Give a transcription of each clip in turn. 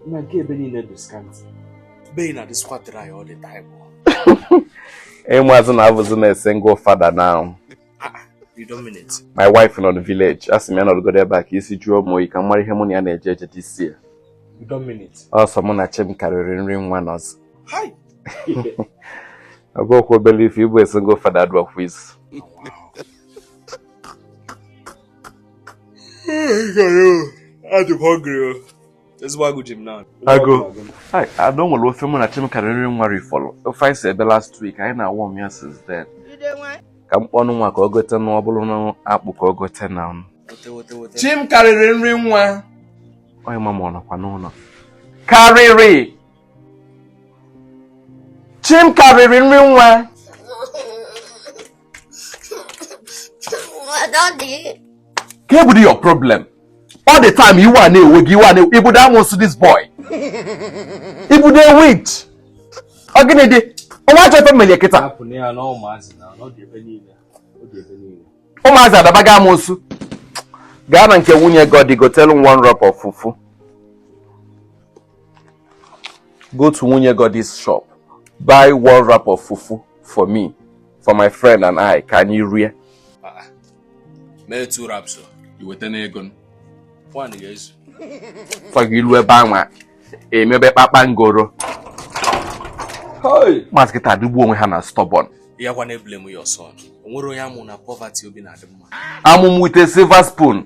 na nke ebe niile bụ scanty be na dịsịkwa dry all the time ịmazị na abụzi m a single father now ah, ah, my wife nọ na village asị m ya nọrọgodo ebe a ka isi jụọ m oyi ka m mara ihe mụ na ya na-eje eje this year ọ sọ mụ na chim karịrị nri nwa nọzị ọ bụrọkwa obele ife ịbụ a single father adịrọkwa easy agụụ ada nwere ofe mụ na chim karịrị nri nwa rifọrọ ofe anyị si ebe last week anyị na-awarm ya since then ka m kpọnụ nwa ka ọ gotenụ ọ bụrụ na akpụ ka ọ gote now chim karịrị nri nwa onye ma ma ọ nọkwa n'ụlọ karịrị chim karịrị nri nwa kee bụdị your problem all the time iwe a na-ewe gị iwe a na-ewe ị bụdị amụsụ this boy ị bụdị witch ọ gịnị dị ọnwa achọ ife m meli kịta ụmụazị adabago amụsụ gaa na nke nwunye Goddy gotere m one wrap fufu go to nwunye Goddy's shop buy one wrap of fufu for me for my friend and I ka anyị rie ah, mee two wraps iweta n'ego one ga-ezu fọgị i lu ebe anwa emebe kpakpangoro ụmụazị kịta adịgbu onwe ha na stubborn ya gwa na-eblame ya ọsọ nwere onye a mụ na poverty obi na-adị mma a mụ m with silver spoon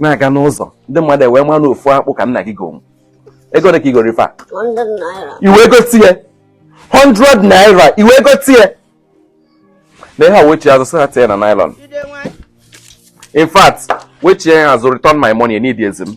na-aga n'ụzọ ndị mmadụ ewee mara na ofu akpụ ka nna gị gonwu ego ole ka i goro ife a iwe ego tie 100 naira iwe ego tie na ihe a wechi azụ sị ha tie na nylon in fact wechie ya azụ return my money aneedịzi m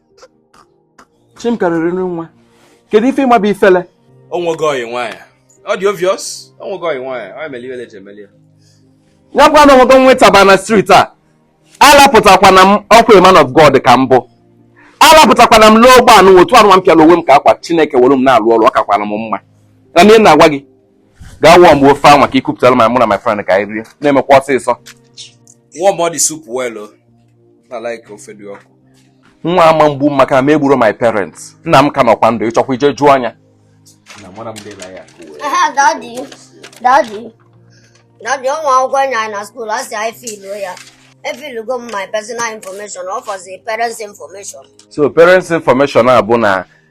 chim karịrị nwa kedu ife ị ma bụ ifele o nwego ọyị nwaanyị ọ dị obvious o nwego ọyị nwaanyị ọ emeli iwele ji emeli ya ya gwa na o nwego nwetaba na street a alapụtakwana m ọkwa man of God ka m bụ alapụtakwana m lụọ ụgbọ anụ otu anụwa m pịara onwe m ka akwa Chineke were m na-alụ ọrụ ọ kakwana m mma na ihe m na-agwa gị gaa warmbe ofe anwa ka ị kupụtara ma mụ na my friend ka anyị rie na-emekwa ọsịsọ warmụ the soup well nwa ama egbu m maka na mụ egburọ my parents nna m ka nọkwa ndụ ị chọkwa i je jụọ anya daddy o nwe akwụkwọ e nye anyị na school a sị anyị fill ya efilugo m my personal information ọ fọzi parents information so parents information a bụ na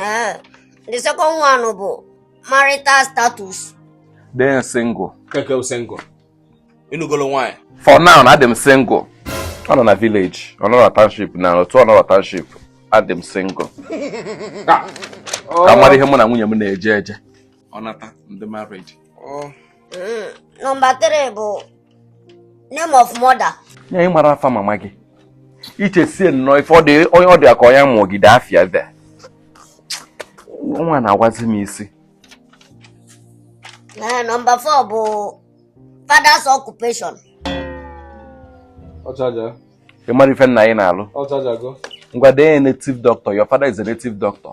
Eh, the second one bụ marital status. Then single. Keke single. Ị nụgolo nwaanyị. For now, adị m single. Ọ nọ na village, ọ nọrọ township na otu ọ nọrọ township, adị m single. Ka m mara ihe mụ na nwunye m na-eje eje. ọ nata m dị married oh. mm, nọmba 3 bụ name of mother nya ị mara afa mama gị i chesị na ọ ife onye ọ dị ka ọnya mụọgide afịa ve nwa na-agwazi m isi eh, nọmba 4 bụ father's occupation ị mara ife nna gị na-alụ ngwa dee native doctor your father is a native doctor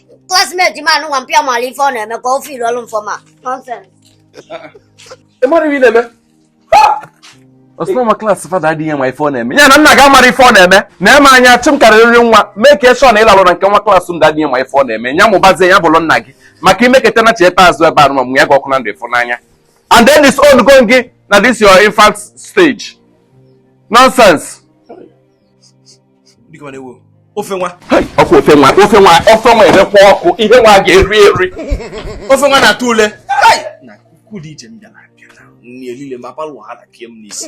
classmate ma anụnwa mpịa mara ife ọ na-eme ka o fill-uoro m form a nonsense ị mara ihe ị na-eme ọ sị na my class father adịghị ama ife ọ na-eme ya na nna gị amara ife ọ na-eme na-eme anya chụ m karịrị nwa mee ka eshọ na ịlalụ na nke nwa class ndị adịghị ama ife ọ na-eme ya mụbazie ya bụrụ nna gị maka i meketa na cheta azụ ebe anụ ma mụ ya gị ọkụ na ndụ ịfụ n'anya and then this old going gị na this your infant stage nonsense biko na ewo ofe nwa ọkụ ofe nwa ofe nwa ofe nwa erekwa ọkụ ihe nwa ga-eri eri ofe nwa na-atụ ule na kuku dị iche m bịara abịa na nri elile ma palụ ha na kie m n'isi